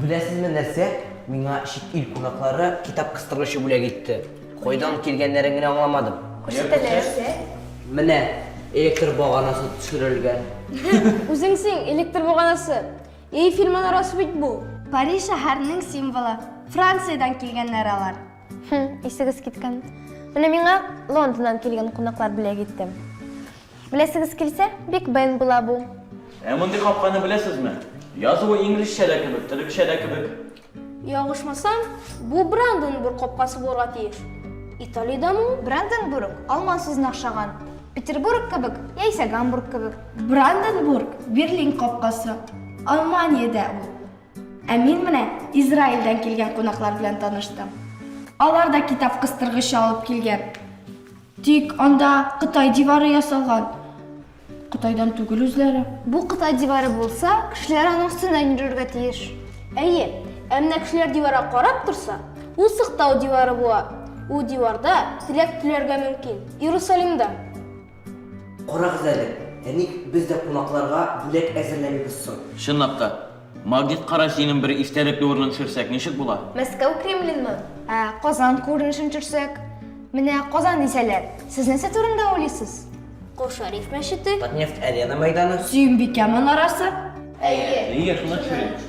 Беләсезме нәрсә? Миңа чит ил кунаклары китап кыстыргычы бүләк итте. Кайдан килгәннәрен генә аңламадым. Күрсәтәләрсә? Менә электр баганасы төшерелгән. Үзең син электр баганасы. Эйфель манарасы бит бу. Париж шәһәренең символы. Франциядән килгәннәр алар. Хм, исегез киткән. Менә миңа Лондоннан килгән кунаклар бүләк итте. Беләсегез килсә, Биг Бен була бу. Ә мондый капканы беләсезме? Язуы инглизчә дә кебек, төрекчә дә кебек. Ялгышмасам, бу Бранденбург капкасы булырга тиеш. Италиядәме ул? Бранденбург алман сүзен охшаган. Петербург кебек, яисә Гамбург кебек. Бранденбург, Берлин капкасы. Алманиядә ул. Ә мин менә Израильдән килгән кунаклар белән таныштым. Алар да китап кыстыргычы алып килгән. Тик анда Кытай дивары ясалган. Кытайдан түгел үзләре. Бу Кытай дивары булса, кешеләр аның өстеннән йөрергә тиеш. Әйе, ә менә кешеләр диварга карап торса, ул сыктау дивары була. Ул диварда теләк теләргә мөмкин. Иерусалимда. Карагыз әле, ә ник без дә кунакларга бүләк әзерләмибез соң? Чынлап та, Магнит кара җиңен бер истәлекле урынын төшерсәк, ничек була? Мәскәү Кремленмы? Ә Казан күренешен төшерсәк? Менә Казан дисәләр, сез нәрсә турында уйлыйсыз? Кол Шәриф мәчете. Татнефть-Арена мәйданы. Сөембикә манарасы. Әйе. Әйе, шуны төшерик.